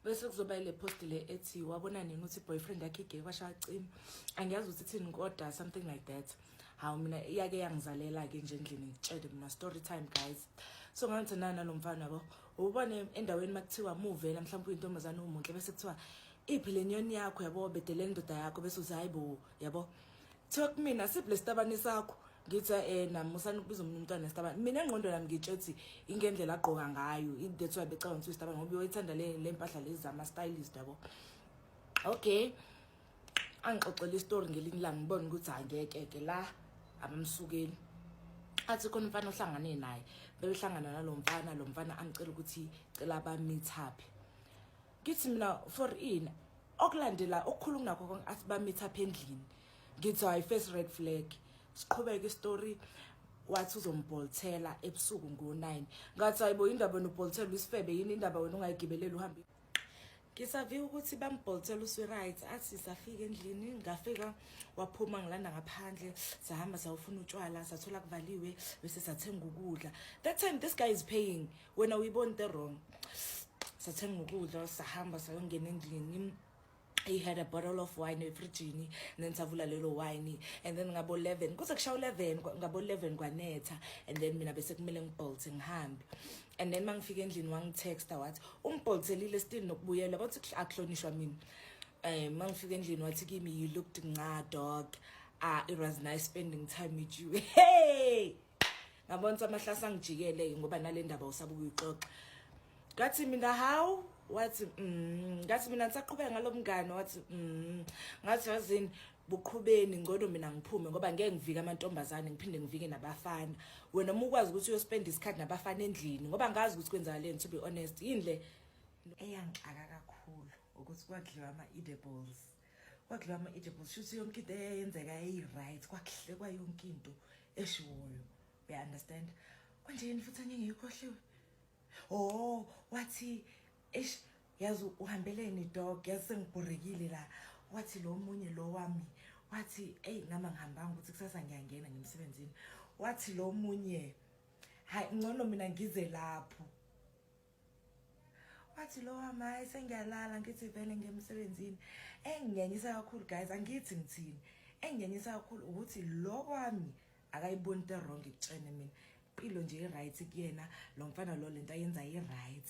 bese kuzoba ile post le ethi wabona nini ukuthi boyfriend yakhe igay kwasha cima angiyazi ukuthi thini kodwa something like that hawu mina iyake yangizalela ke nje endlini ngitshele mina story time guys so ngangithi nana lo mfana yabo ubone endaweni makuthiwa muvela mhlawumbe uyintombazane umunhle bese kuthiwa iphi le nyoni yakho yabo bedele indoda yakho bese uzayibo yabo kuthiwa kumina siphi lesitabane sakho ngithi eh namusani ukubiza umuntu umntwana nesitabane mina engqondo nami ngitshe ukuthi ingendlela agqoka ngayo that's why becabanga ukuthi isitabane ngoba uyithanda le lempahla lezi zama stylist yabo okay angixoxela istory ngelinye ilanga ngibona ukuthi angeke ke la abamsukeli athi khona umfana ohlangane naye bebehlangana nalo mfana lo mfana angicela ukuthi cela bameet up ngithi mina for ini okulandela okukhulu kunakho konke athi bamitha apha endlini ngithi hayi first red flag siqhubeke istory wathi uzombolthela ebusuku ngo-9 ngathi hayibo indaba wena ubholthela uyisifebe yini indaba wena ungayigibeleli uhambe ngisaviwe ukuthi bambholthela uswi-right athi safika endlini ngafika waphuma ngilanda ngaphandle sahamba sawufuna utshwala sathola kuvaliwe bese sathenga ukudla that time this guy is paying wena uyibona into wrong sathenga ukudla sahamba sayongena endlini he had a bottle of wine efrijini then savula lelo wine and then ngabo 11 kuze kushawa 11 ngabo 11 kwanetha and then mina bese kumele ngibholte ngihambe and then mangifika endlini wangitexta wathi ungibholthelile still nokubuyela bathi akuhlonishwa mina um mangifika endlini wathi kimi you looked nca dog ah it was nice spending time with you hey ngabona ukuthi amahlasa angijikele-ke ngoba nale ndaba usaba ukuyixoxa ngathi mina hawu wathi mm ngathi mina ngisaqhubeka ngalomngane wathi mm ngathi yazini buqhubeni ngcono mina ngiphume ngoba ngeke ngivike amantombazane ngiphinde ngivike nabafana wena uma ukwazi ukuthi uyospenda isikhathi nabafana endlini ngoba ngazi ukuthi kwenzakaleni to be honest yini le eyangixaka kakhulu ukuthi kwadliwa ama-edibles kwakudliwa ama-edibles shuthi yonke into eyenzeka eyi-right kwakuhlekwa yonke into eshiwoyo uya-understand kwanje yini futhi angingeyikhohliwe o oh, wathi eish yazi uhambeleni dog yazi sengibhorekile la wathi lo munye lo wami wathi eyi nama ngihambanga ukuthi kusasa ngiyangena ngemsebenzini wathi lo munye hayi ngcono mina ngize lapho wathi lowa maye sengiyalala ngithi vele ngemsebenzini engingenyisa kakhulu guys angithi ngithini engingenyisa kakhulu ukuthi lo kwami akayiboni into wrong ikutshene mina impilo nje i-right kuyena lo mfana lo lento ayenza i-right